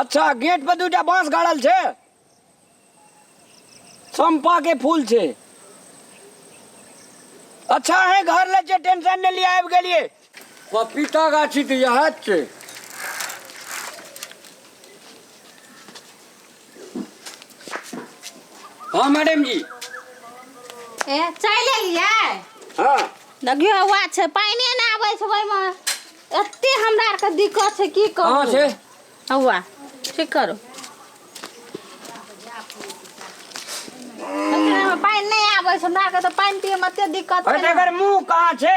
अच्छा गेट पर दूटा बांस गाड़ल छे चंपा के फूल छे अच्छा है घर ले छे टेंशन नहीं लिया आबि गेलिए पपीता गाछी तो यह छे हाँ मैडम जी ए चलि एलियै हाँ देखियो हौआ छै पानिए नहि आबै छै ओहिमे एते हमरा आरके दिक्कत छै की कहाँ कहू छै हौआ ठीक करू देखियौ, एहिमे पानि नहि आबै छै हमरा आरके तऽ पानि पियैमे एते दिक्कत अरे छै ने। तकर मुंह कहाँ छै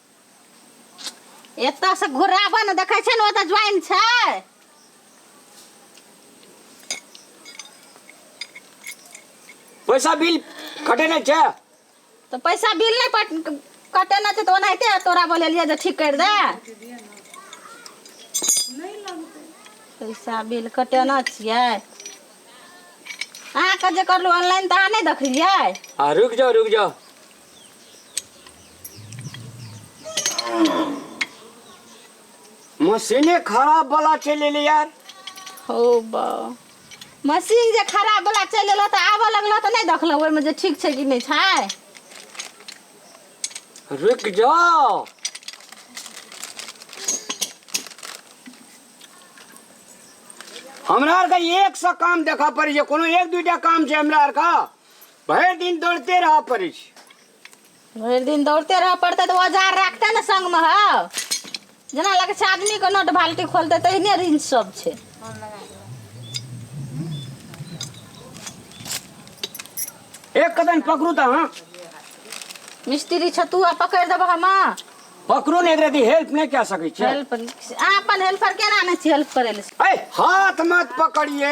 एतऽ से घुराबऽ ने देखै छै ने ओतऽ ज्वाइन छै पैसा बिल कटे नहि छै तऽ पैसा बिल नहि पट कटे नहि छै तऽ ओनाहिते तोरा बोलेलियै जे ठीक करि दे पैसा बिल कटेना छियै अहाँके जे करलहुँ ऑनलाइन तऽ अहाँ नहि देखलियै आ रुक जाओ रुक जाओ मशीने खराब वाला चले ले यार हो बा मशीन जे खराब वाला चलि एलऽ तऽ आबऽ लगलऽ तऽ नहि देखलऽ ओहिमे जे ठीक छै कि नहि छै रुक जाओ हमरा आरके एक सौ काम देखऽ पड़ै छै कोनो एक दुइटा काम छै हमरा आरके भरि दिन दौड़ते रहऽ पड़ै छै भरि दिन दौड़ते रहऽ पड़तै तऽ औजार राखतै ने संगमे हौ जेना लगै छै आदमीके नट बाल्टी खोलतै तहिने रिंच सब छै एक कदम पकड़ू तऽ अहाँ मिस्त्री छतुआ पकड़ि देबह हम पकड़ू ने एकरा दी हेल्प नहि कए सकै छै हेल्प अहाँ अपन हेल्पर केना नहि छी हेल्प करै लए ऐ हाथ मत पकड़िए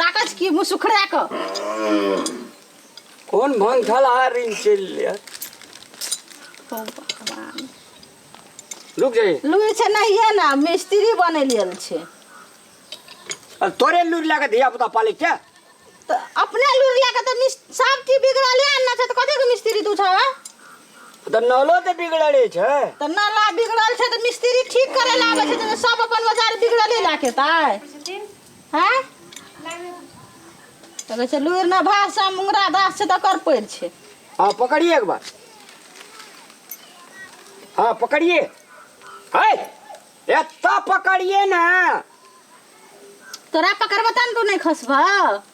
ताकै छी की मुँह सुखड़ा कऽ कोन भंथल हारिन चलि ले ओ भगवान रुक जाई लुरि छै नहिए ने मिस्त्री बनै लेल छै आ तोरे लूर लगा धिया पुता पाले क्या तऽ अपने लुरि लए कऽ तऽ मिस सब चीज बिगड़ले आनना छै तऽ कथीके मिस्त्री तू छऽ तऽ नलो तऽ बिगड़ले छै तऽ नाला बिगड़ल छै तऽ मिस्त्री ठीक करे लए आबै छै तऽ सब अपन बाजार बिगड़ले लए के एतै आँय तऽ कहै छै लूरि ने भाग छै मुंगरा दास छै तऽ कर पड़ि छै हाँ पकड़िए एक बार हाँ पकड़िए है एत्ता पकड़िए ने तोरा पकड़बो तहन तू नहि खसबह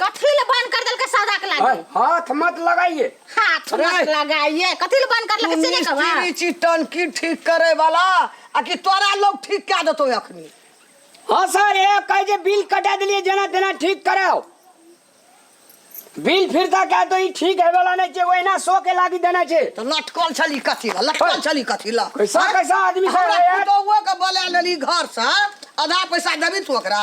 कथी ले बन कर देलके सौदा के लागे अरे, हाथ मत लगाइए हाथ अरे! मत लगाइए कथी ले बन कर तू लेके सीने कहवा मिस्त्री छी टंकी ठीक करे वाला आ कि तोरा लोग ठीक कए देतो अखनी हाँ सर ये कहे जे बिल कटा दिलिए जना तेना ठीक कराओ बिल फिरता कहे तो ई ठीक है वाला नहीं छे ओहिना सो के लागी देना छे तो लटकल छली कथी ला लटकल छली कथी ला कैसा कैसा आदमी सब हमरा है यार पुतोहुओ के बोला लेली घर से आधा पैसा देबी तू ओकरा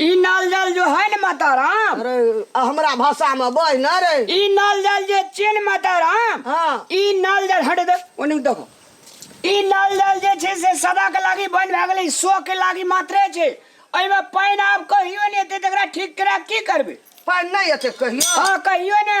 ई नल जल जो है न माता राम अरे आ हमरा भाषा में बज न रे ई नल जल जे छियै ने माता राम हाँ ई नल जल हटे दे ओने देखो ई नल जल जे छै से सदा के लागी बन भए गेलै सो के लागी मात्रे छै एहिमे पानि आब कहियो नहि एतै तकरा ठीक करा की करबै पानि नहि एतै कहियो हँ कहियो ने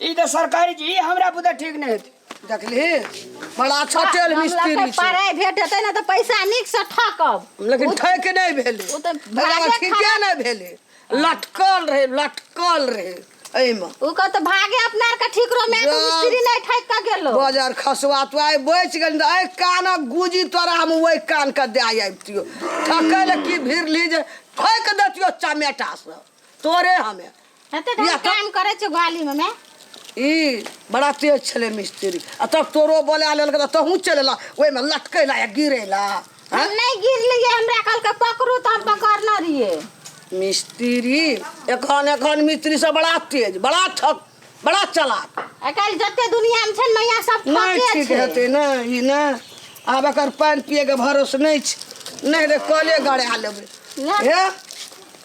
ई तऽ सरकारी चीज ई हमरा बुते ठीक नहि हेतै देखली बड़ा अच्छा तेल हम मिस्त्री लगतै छै पढ़ाइ भेट हेतै ने तऽ पैसा नीकसँ ठकब लेकिन ठक नहि भेलै ओ तऽ एकरा भागे बाद ठीके खराब- नहि भेलै लटकल रहै लटकल रहै एहिमे ओ कहत तऽ भागे अपना आरके ठीक रहो मैं जा। मिस्त्री नहि ठकि कऽ गेलो बाजार खसुआ तो आइ बचि गेल तऽ एहि कानक गुजी तोरा हम ओहि कानके दए आबितियो ठकै लए की भिड़ली जे ठोकि देतियो चमेटासँ तोरे हमे एते बियाह कर- काम करे छे ग्वाली में मैं ई बड़ा तेज छले मिस्त्री आ तब तोरो बोला लेलक तऽ तहूँ चलेला ओहिमे लटकेला या गिरेला हम हैं? नहीं गिरलिए हमरा कल के पकड़ू तो हम पकड़ना रहिए मिस्त्री एखन एखन मिस्त्री सब बड़ा तेज बड़ा ठक बड़ा चलाक अकल जते दुनिया में छे मैया सब नहि ठके ठीक छे हेतै ने ई ने आब एकर पानि पियैके भरोस नहि छै नहि रे कले गड़ा लेबै नहि। हे